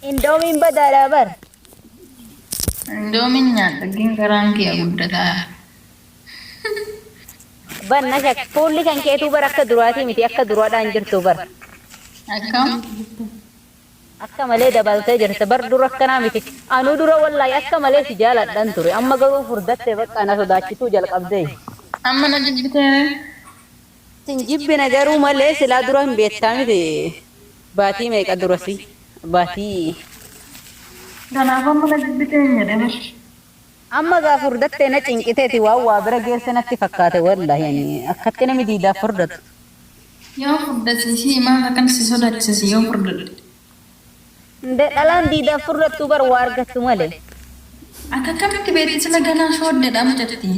Indoomiin badaadha bar. Indoomiin nyaadha gin garaan kiya guddataa. Bar na shak fuulli kan keetuu bar akka duraatii miti akka duraadhaa hin jirtu bar. Akkam? Akka malee dabaltee jirta bar dura akkanaa miti. Anuu dura wallaahi akka malee si jaaladhan ture amma garuu furdatte bakka na sodaachisuu jalqabdee. Amma na jibbiteere? Sin jibbine garuu malee silaa dura hin beektaa miti baatii meeqa durasi baatii. Kanaaf amma na jibbitee hin jedhin ishi. Amma gaa furdatte na cinqiteeti waan waa bira geesse natti fakkaate wallahi ani akkatti nami diidaaf furdatu. Yoo furdate ishii maaf akkan si sodaachisa si yoo furdadhe. Nde dhalaan diidaaf furdattu bar waa argattu malee. Ati akkamitti beekte sila ganaa shooddeedha mucattiin.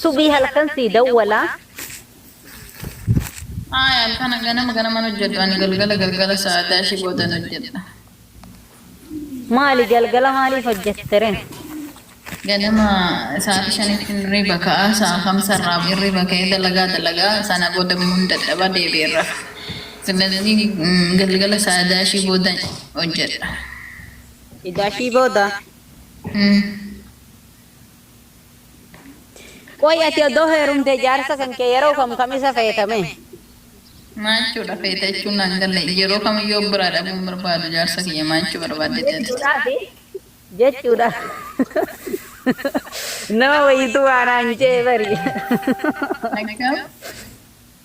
Subii halkan sii dawwalaa. Ayi halkana ganama ganaman hojjedhu ani galgala galgala sa'aatii ashi boodan hojjedha. Maali galgala maaliif hojjettere? Ganama sa'aatii shanitti hirriba ka'a sa'a kamsa irraa hirriba ka'ee dalagaa dalaga sana booda immoo hin dadhaba deebi'een rafa. Silazii galgala sa'aatii ashii booda hojjedha. Idashii booda? Umm. Qoy ati odoo heerumtee jaarsa kan kee yeroo kam kam isa feeta mee? Maachuu dha feeta jechuun naan galle. Yeroo kamiyyuu of biraa dhabuu hin barbaadu jaarsa kiyya maachuu barbaaddeti ati. Jechuudhaafi jechuudha nama wayiitu waa naan je'e bari. Akkam?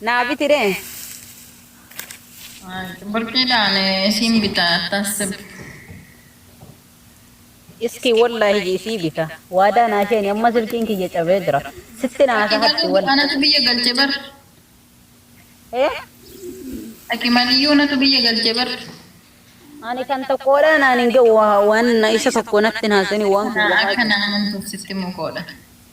naa biti ree. Burqiidhaan isiin bita attasib. Iskii wollahi ji isii bita. Waadaa naa sheeni amma silkiin kiyya cabee jira. Sitti naa Dhaqi hasahatti galuu wollahi. anatu biyya galche bar. Eh? Dhaqi maliyyuu anatu biyya galche bar. Ani kan tokkoodhaa naan hin ga'u waan isa tokko natti hin haasini waan Naa kiyya akka haasini. na amantuuf sitti mukoodha.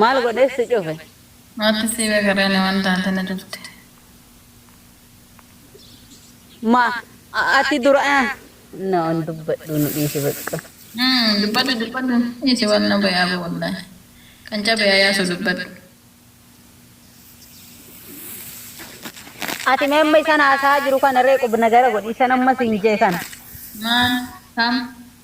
Maal godhee si cufe? Maaltu si gagaree na wan taate na cufte. Ma ati dura na wan dubbadhu nu dhiisi baqqa. Umm dubbadhu dubbadhu dhiisi wan na baye abo wallahi. Kan cabe haa yaasu dubbadhu. Ati mee amma isan haasa'aa jiru kana ree qubnagara godhi isan amma siin jee kana. Maal? Kam?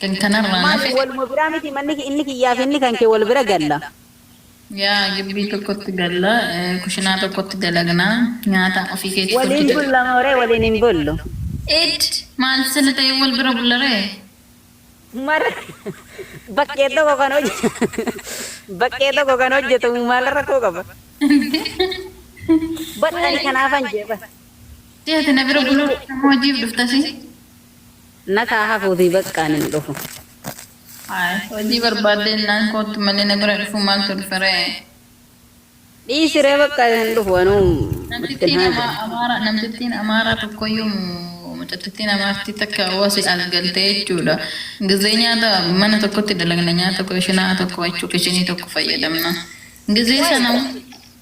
Kan kanarraan Maali hafe. waluma biraa miti manni ki- inni kiyyaa fi inni kan kee wal bira galla. Yaa gibbii tokkotti galla, eh, kushinaa tokkotti dalagna, nyaata ofii keetii Waliin hojjeta. bulla moo ree waliin hin bullu? Eed! Maal sila ta'ee wal bira bulla ree? Maal bakkee tokko kan hojjetu bakkee tokko kan hojjetamu maal rakkoo qaba? Bar ani kanaafan jee bar. Deeti na bira buluu dhufta moo hojiif dhuftasi? Naf haa hafuutii baqqa ani hin dhufu. Haay hojii barbaadde jennaan koottu malee na bira dhufuu maaltu dhufe ree. Dhiisi ree baqqa ani hin dhufu anuu itti hin haaja'u. Namtittiin Amaaraa tokkoyyuu mucatittiin Amaartii takka wasi as galte jechuudha. Gizee nyaata mana tokkotti dalagna nyaata kushinaa tokko jechuu kishinii tokko fayyadamna. Gizee sana.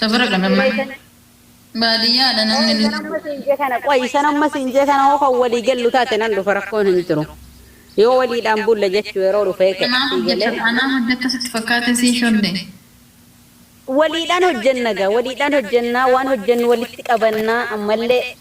Safara kana mana baadiyyaa dha namni illee. Isan amma siin jee kana qoy isan amma siin jee kana hoo kan walii gallu taate nan dhufa rakkoon hin jiru yoo waliidhaan bulla jechu yeroo dhufee kee Anaa sii galee. hojjetta anaa hojjetta sitti fakkaate sii shodde. Waliidhaan hojjenna egaa waliidhaan hojjennaa waan hojjennu walitti qabannaa ammallee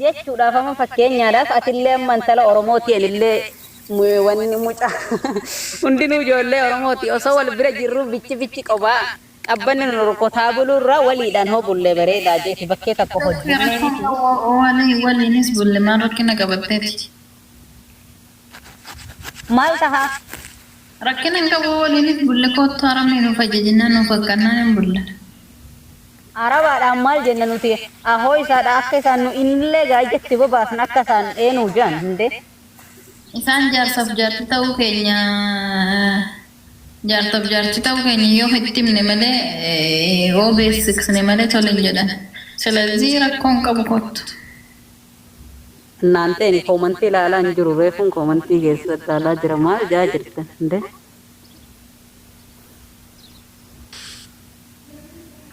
jechuudhaaf amma fakkeenyaadhaaf atillee amma intala oromooti anillee wanni mucaa hundinuu ijoollee oromooti osoo wal bira jirruu bichi bichi qobaa qabbanni nu rukutaa buluurra waliidhaan hoo bullee bareedaa jeeti bakkee takko hojjennee miti. Waliinis bulle maal rakkina qabatteeti. maal tahaa? Rakkina hin qabu waliinis bulla koottu Arabni nuuf ajajennaan nuuf akkannaan hin bulla. Arabaadhaan maal jenna nuti ahoo isaadha akka isaan nu inillee gaa ijatti bobaasna akka isaan ee nuu jean hundee. Isaan jaarsaaf jaarti ta'uu keenya jaarsaaf jaarti ta'uu keenya yoo itti himne malee yoo beeksiksne malee tole hin jedhan. Silazii rakkoo hin qabu koottu. Naanteen koomantii laalaa hin jiru reefuun koomantii keessan laalaa jira maal jaa jirtan nde.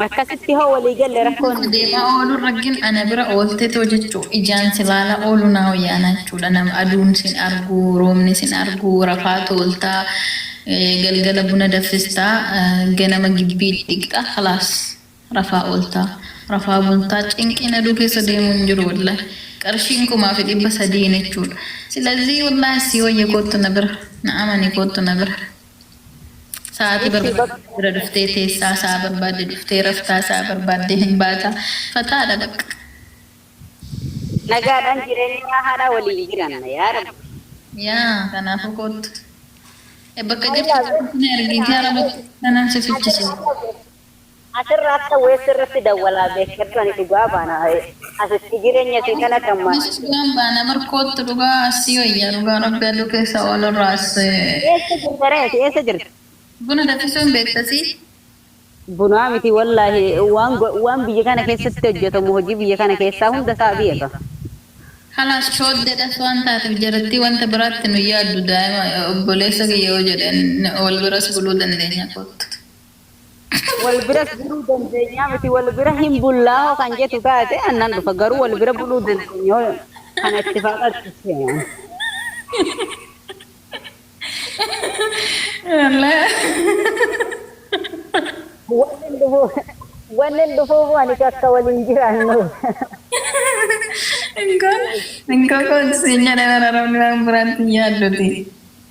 Akkasitti hoo walii galle rakkoon hin jiru. Deemaa ooluun raggin ana bira ooltetoo jechuu ijaan si laalaa ooluu naa wayyaanaa jechuudha nama aduun sin argu roobni sin argu rafaa toolta galgala buna daffista ganama gibbii dhiqxa kalaas. Rafaa ooltaa rafaa bultaa cinqiin aduu keessa deemuu hin jiru wollahi qarshiin kumaa fi dhibba sadiin jechuu dha silazii wollahi sii woyya koottu na bira na amani koottu na bira sa'aatii Ishii barbaaddee bakka. bira dhuftee teessaa sa'a barbaadde dhuftee raftaa sa'a barbaadde hin baataa fataa dha baqqa. Nagaadhaan jireenyaa haadhaa waliin jiraanna yaa rabbi. Yaa kanaafuu koottu. E bakka jirtu Allaa. koottu na ergiitii arabatti tanan si Ati fichisiisa. maal goota? Asirra akka waves irratti dawwalaa bekkertu ani dhugaa baana wae asitti jirenya isii kana kan ma. Nus dhugaan baana bar koottu dhugaa sii wayya dhugaa rabbi aduu keessa oolurraa si. Eessa jirta ree ati eessa jirta. Buna dafisuu hin beekta sii. Bunaa miti wallaahi waan waan biyya kana keessatti hojjatamu hojii biyya kana keessaa hunda isaa beeka. Kalaas shoodde das waan taatef jarattii wanta biraatti nun yaaddu daa'ima obboleessa kiyya yoo jedhe wal biras buluu dandeenya koottu. wal biras buluu dandeenyaa miti wal bira hin bullaa hoo kan jetu taate annan dhufa garuu wal bira buluu dandeenya hoo kana itti faaqatti seena. Wannen dhufuu wannen dhufuu moo ani akka waliin jiraannuuf. Inkoo inkoo koo siin jedhee bara rabbi waan biraatti hin yaadduti.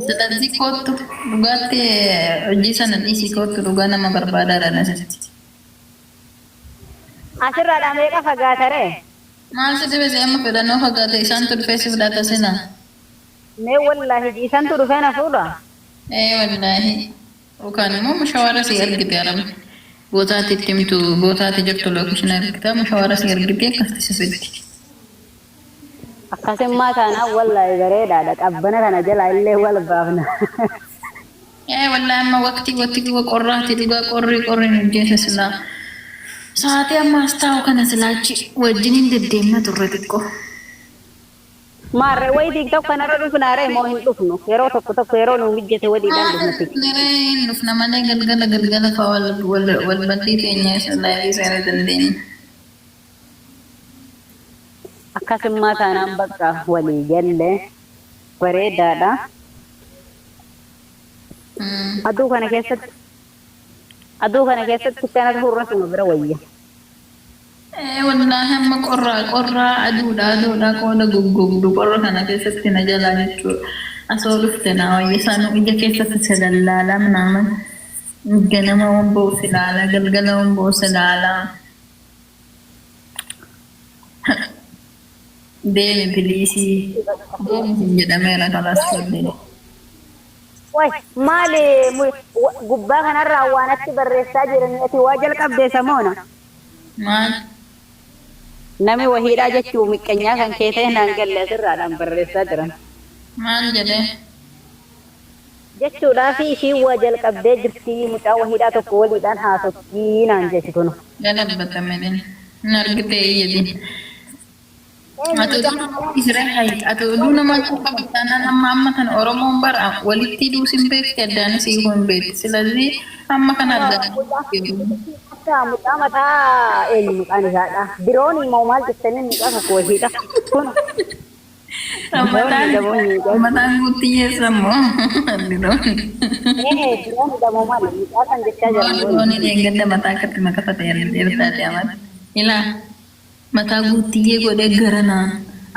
Ustaxii koottu dhugaatti hojii sana dhiisii koottu dhugaa nama barbaadaa dhan asitti. Asirraadhaa meeqa fagaata ree? Maal si dhibe si amma fedhanoo fagaate isaantu dhufee si fudhata sila. Mee wollaahi ji isantu dhufee na fuudha. Ee wallaahi. Yookaan immoo mushawaara sii argite arabni boota ati itti himtu boota ati jirtu location argita mushawaara sii argite akkasitti si fiddi. Akkasummaa taanaan wallaahi bareedaadha qabbana kana jalaa illee wal baafna. Ee wallaahi amma waqtii waqtii qorraati dhugaa qorrii qorri nu ajjeesa silaa sa'aatii amma as taa'u kana silaa achi wajjiniin deddeemna turre xiqqoo. Maarree wayii diigda kanarra dhufnaaree moo hin dhufnu yeroo tokko tokko yeroo nuu mijjate waliidhaan Haala dhufna xiqqoo. dhufneree hin dhufna malee galgala galgala fa'aa wal wal wal baddii teenya isa laayivii seena dandeenya. Akkasummaa taanaan baqqa walii galle. Bareedaadha. Aduu kana keessatti aduu kana keessatti akkana tahurra suma bira wayya. Ee wallaahi amma qorra qorra aduudha aduudha qooda goggogdu qorra kana keessatti na jalaa jechuudha asoo dhufte naa wayya sanuu ija keessatti si lallaala minaaman ganama wan ba'u si laala galgala wan ba'u si laala Deemi piliisii. Deemi sin jedhameera kalas tollee. Way maali mu- wa- gubbaa kanarraa waan atti barreessaa jiranii ati waa jalqabdee samoona. Maal? Nami wahiidhaa jechuu miqqanyaa kan kee ta'e naan galle asirraadhaan barreessaa jiran. Maal jedhee? jechuudhaafi ishiin waa jalqabdee jirti mucaa wahiidhaa tokko waliidhaan haasotti naan jeeti kunoo. Galabbata malen hin argitee hin jedhin ati oduu namaa dhisire hay ati oduu namaa cuu qabda taanan amma amma kana oromoon bar walittii duus hin beekti addaanis hiikuu hin beekti silazii amma kana argataa jirtii oromoon. Akka mucaa mataa eenyu maqaan isaadha biroonii moo maal jettaniin mucaa tokko wahiidha kunoo. Ramadan Diroonidha moo miidhaa? Ramadan guutti yeessa moo dirooni. Ee diroonidha moo maali? Mucaa san jechaa jira Moo mooni. dirooni dheengadda mataa akkatti makafate ertaati amal. Ilaa mataa guuttiyyee godhee garanaan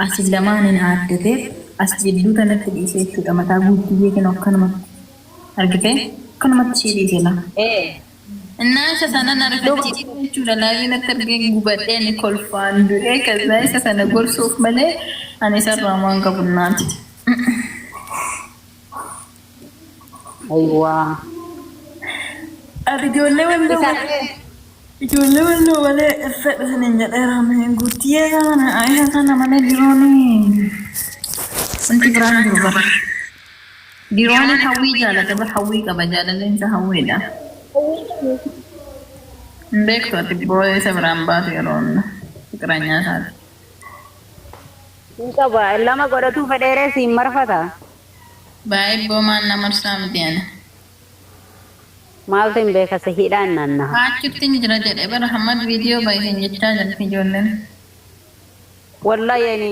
asi lamaaniin aaddateef as jidduu tanatti dhiise jechuudha mataa guuttiyyee kinoo akkanumatti argitee akkanumatti ishii dhiise laa. Ee. Innaa isa sana na rifachiise jechuudha live natti argeen gubadhee ani kolfaan du'ee kazzaa isa sana gorsuuf malee ani isarraa homaa hin qabu innaati. Ayiwaa. Ati ijoollee walloo Isa malee ijoollee walloo malee hin fedhu sinin jedheera mee guuttiyee kana isa sana malee dirooni wanti biraa hin jiru bara. Dirooni hawwii jaalata bar hawwii qaba jaalalleen isaa hawwiidha. Hawwiin kan yookiin dirooni. Hin beektu ati booya isa biraa hin baatu yeroo hunda fiqiranyaa isaati. Hin qaba lama godhatuu fedheeree siin marfata. Baay ibboo maan na marsaa miti ani. Maaltu hin beeka si hidhaan naannaha. Haachuttin jira jedhe bar hammad video bayisen jechaa jirti ijoollen. Wallahi yeni.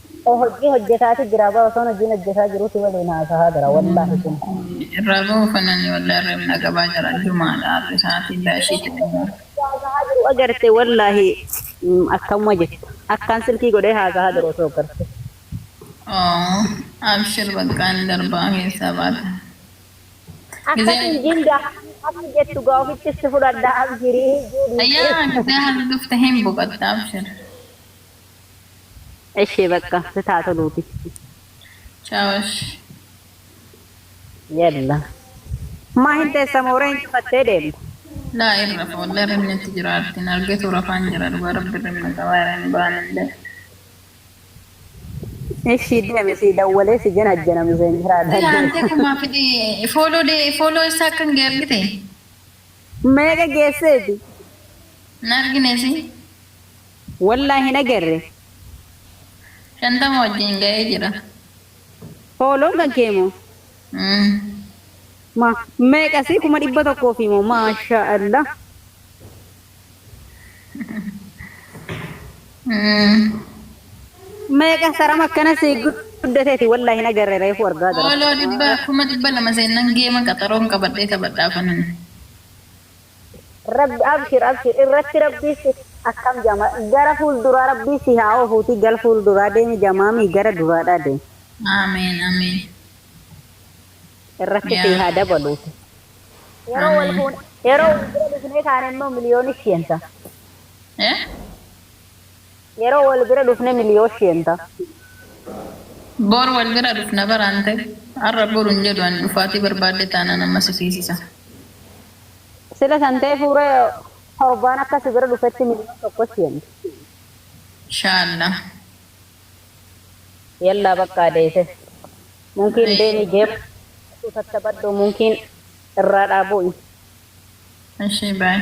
O hojjii hojjetaati jiraa bar osoon hojiin hojjetaa jiruu si waliin haasahaa jira wallahi kun. Irraa bahu fanani wallahi irra hin dhagabaa jira jumaadha arri sa'atiin daashii ta'e immoo. Osoo haasahaa jiruu agarte wallahi akkamuma jetta akkaan silkii godhee haasahaa jiru osoo agarte. Aww abshir baqqaa ni darbaa keessaa baata Akkas hin jiin daahanii akka jettu gaa ofittis si fudhadha abshirii juu dhiisee. Yaa gizee hardufte hin boqatta abshir. Eshee bakka sit haa toluuti. Chaawash. Yalla. Maa hin teessa mooree hin cufattee deemta. Laa in rafa wallahi irribni natti jira artiin argetu rafaan jira dhugaa rabbi irribni na qabaa irra hin baanu illee. Eshii deemi sii dawwalee si janajjana misenjeraa Ati dagee. haantee kumaa fidhi fooloo dee fooloo isaa akkan gee argite Meeqa geesseeti? hin argine si. Wallah hin agarre. Shantama wajjiin ga'ee jira. Hoo loongan kee moo. Umm. Ma. Meeqa si kuma dhibba tokkoo fi moo maasha allah. Umm. Meeqa saram akkana si guddateeti wallah hin agarre reefu argaa gara. Hooloo dhibba kuma dhibba lama seennan geema qaxaroon qabadhee taphadha afanan. Rabbi abshir abshir irratti rabbii si akkam jama gara fulduraa rabbii si haa ofuuti gal fulduraa deemi jamaami gara duraadhaa deem. Ameen Ameen irratti sii yaa haa rabbi. dabaluuti yeroo wal Ameen. fuune yeroo wal bira dhufnee kaane immoo miliyooni siyansa. Eh? Yeroo wal bira dhufne miliyoos sheen ta. Bor wal bira dhufna baraan ta. Arra boru hin jedhu ani dhufaatii barbaadde taanaan amma si fiisisa. Sila san teefuu ree torbaan akka si bira dhufetti miliyoos tokko sheen ta. Shaalla. Yallaa baqqaa deese. Munkiin deemi jeequu dhabadhu tattabadhu munkiin irraa dhaa bu'i. Eshii bye.